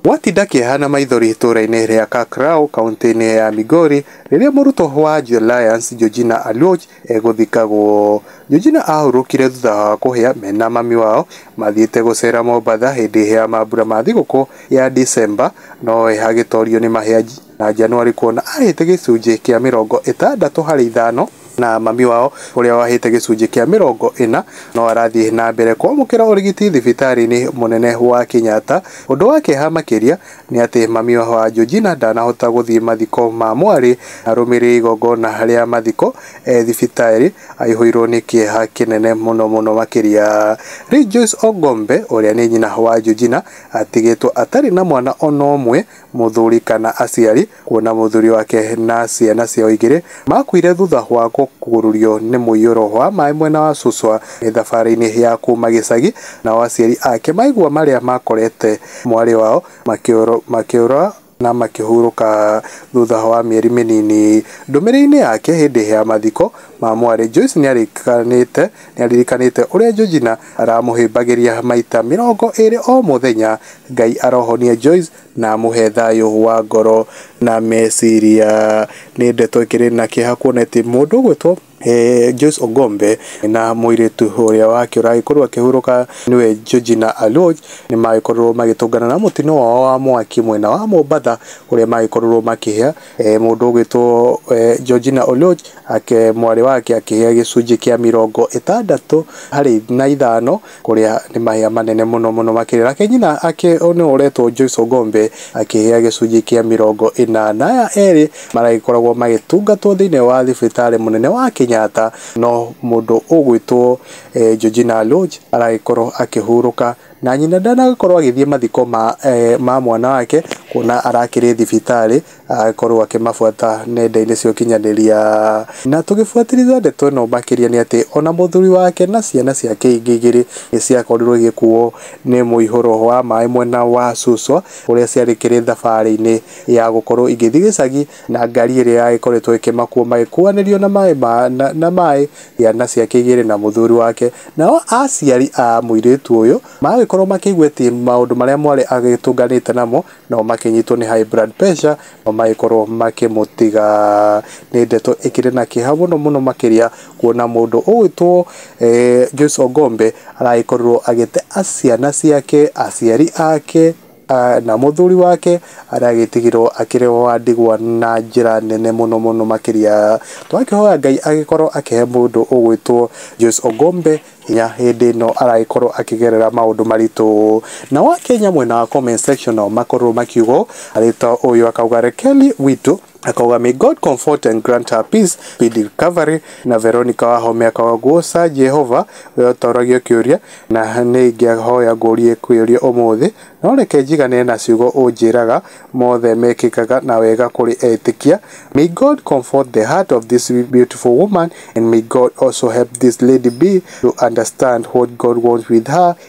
Gwatinda kĩeha na maithori itũũra-inĩ rĩa Kakraou, kaũntĩ-inĩ ya Migori, rĩrĩa mũrutwo wa Jua Lions, Georgina Aluoch, egũthikagwo. Georgina aahurũkire thutha wa kũhĩa me na mami wao mathiĩte gũceera Mombatha hĩndĩ ya mambura ma thigũkũ ya Dicemba, no we agĩtorio nĩ mahĩa. na Januari kuona ahĩte gĩcunjĩ kĩa mĩrongo ĩtandatũ harĩ ithano na mami wao ũrĩa wahĩte gĩcunjĩ kĩa mĩrongo ĩna no arathiĩ na mbere kwamũkĩra ũrigiti thibitarĩ-inĩ mũnene wa Kenyatta. Ũndũ wa kĩeha makĩria nĩ atĩ mami wa Georgina ndanahota gũthiĩ mathiko ma mwarĩ na arũmĩrĩre igongona rĩa mathiko e thibitarĩ aihũirwo nĩ kĩeha kĩnene mũno mũno makĩria. Rejoice Ogombe ũrĩa nĩ nyina wa Georgina atigĩtwo atarĩ na mwana ona ũmwe. Mũthuri kana aciari kuona mũthuri wake na ciana ciao igĩrĩ makuire thutha wa kũgururio nĩ mũiyũro wa maĩ mwena wa Suswa nĩ thabarĩ-inĩ ya kuma gĩcagi, nao aciari ake maigua marĩa makorete mwarĩ wao makĩũra na makĩhurũka thutha wa mĩeri mĩnini. Ndũmĩrĩri-inĩ yake hĩndĩ ya mathiko ma mwarĩ, Joyce nĩarĩkanĩte nĩ aririkanĩte ũrĩa Georgina aramũhĩmbagĩria maita mĩrongo ĩrĩ o mũthenya. Ngai arohonie Joyce na amũhe thayũ wa ngoro na meciria. Nĩ ndeto ĩkĩrĩ na kĩeha kuona atĩ mũndũ ũgwĩtwo Joyce Ogombe na mũirĩtu ũrĩa wake ũragĩkorwo akĩhurũka nĩwe Georgina Aluoch nĩ magĩkorirwo magĩtũngana na mũtino wao wa mwaki mwena wa Mombatha ũrĩa magĩkorirwo makĩhĩa. e, mũndũ ũgwĩtwo e, Georgina Oluoch ake mwarĩ wake akĩhĩa gĩcunjĩ kĩa mĩrongo ĩtandatũ harĩ na ithano kũrĩa nĩ mahĩa manene mũno mũno makĩria nake nyina ake nĩ ũretwo Joyce Ogombe akĩhĩa gĩcunjĩ kĩa mĩrongo ĩna na aya erĩ maragĩkoragwo magĩtungatwo thĩinĩ wa thibitarĩ mũnene wa Kenyatta no mũndũ ũgwĩtwo e, Georgina Oluoch aragĩkorwo akĩhurũka Na nyina ndanakorwo agĩthiĩ mathiko ma, eh, ma mwana wake, kuona arakĩrĩ thibitarĩ, agĩkorwo akĩmabuata nenda-inĩ cia ũkinyanĩria. Na tũgĩbuatĩrĩra ndeto ĩno makĩria nĩ atĩ, ona mũthuri wake na ciana ciake ingĩ igĩrĩ nĩ ciakorirwo igĩkuo nĩ mũihũro wa maĩ mwena wa Suswa, kũrĩa ciarĩkĩrĩ thabarĩ-inĩ ya gũkorwo igĩthiĩ gĩcagi, na ngari ĩrĩa yagĩkoretwo ĩkĩmakua magĩkuanĩrio na maĩ ma, na, na maĩ ciana ciake igĩrĩ na mũthuri wake. Nao aciari a mũirĩtu ũyũ magagĩkorwo makĩigua atĩ maũndũ marĩa mwarĩ agĩtũnganĩte namo, nao makĩnyitwo nĩ high blood pressure, nao magĩkorwo makĩmũtiga. Nĩ ndeto ĩkĩrĩ na kĩeha mũno mũno makĩria, kuona mũndũ ũgwĩtwo Joyce Ongombe aragĩkorirwo agĩte ciana ciake, aciari ake, na mũthuri wake arĩa agĩtigirwo akĩrĩ wa ndigwa na njĩra nene mũno mũno makĩria. Tũgakĩhoya Ngai agĩkorwo akĩhe mũndũ ũgwĩtwo Joyce Ogombe hinya hĩndĩ ĩno aragĩkorwo akĩgerera maũndũ maritũ. Nao Akenya mwena wa comment section makorwo makiuga ũũ, arĩ ta ũyũ akauga Kelly witũ. Akauga may God comfort and grant her peace, speedy recovery na Veronica Wahome akauga guoca Jehova we ũtaũragio kĩũria na nĩ ingĩahoya ngũrie ĩkwĩyũria ũmũthĩ no reke njigane na ciugo ũnjĩraga mothe mekĩkaga na wega kũrĩ etĩkia may God comfort the heart of this beautiful woman and may God also help this lady be to understand what God wants with her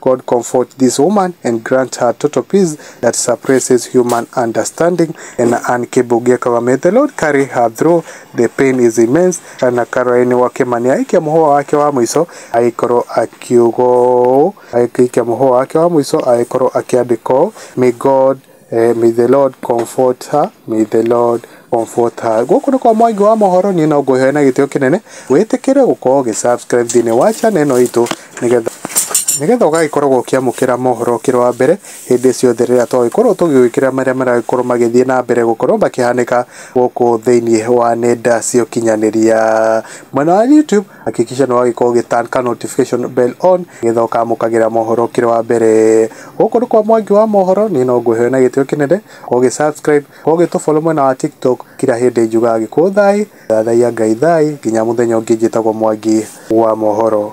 God comfort this woman and grant her total peace that surpasses human understanding and Ann Kibugia Kawa. May the Lord carry her through. The pain is immense. Kana Caroline Wakemania aikia muhũa wake wa mũico agĩkorwo akiuga ũũ, aikia muhũa wake wa mũico agĩkorwo akĩandĩka ũũ, May God Eh, may the Lord comfort her, may the Lord comfort her. Gũkũ nĩ kwa mwangi wa mohoro niĩ no ngũhe na gĩtĩo kĩnene wĩtĩkĩre gũkorwo ũgĩ subscribe thĩinĩ wa channel ĩno itũ nĩgetha nĩgetha ũgagĩkoragwo ũkĩamũkĩra mohoro ũkĩrĩ wa mbere hĩndĩ ciothe rĩrĩa twagĩkorwo tũgĩgwĩkĩra marĩa maragĩkorwo magĩthiĩ na mbere gũkorwo makĩhanĩka gũkũ thĩinĩ wa nenda cia ũkinyanĩria mwena wa YouTube Hakikisha nĩ wagĩka ũgĩ turn ka notification bell on nĩgetha ũkamũkagĩra mohoro ũkĩrĩ wa mbere. Gũkũ nĩ kwa Mwangi wa mohoro, niĩ no ngũhe na gĩtĩo kĩnene, ũgĩ subscribe, ũgĩ tũ follow mwena wa TikTok, kira hĩndĩ njugaga Gĩkũyũ thaĩ, thathaiya Ngai thaĩ, nginya mũthenya ũngĩ njĩtagwo Mwangi wa mohoro.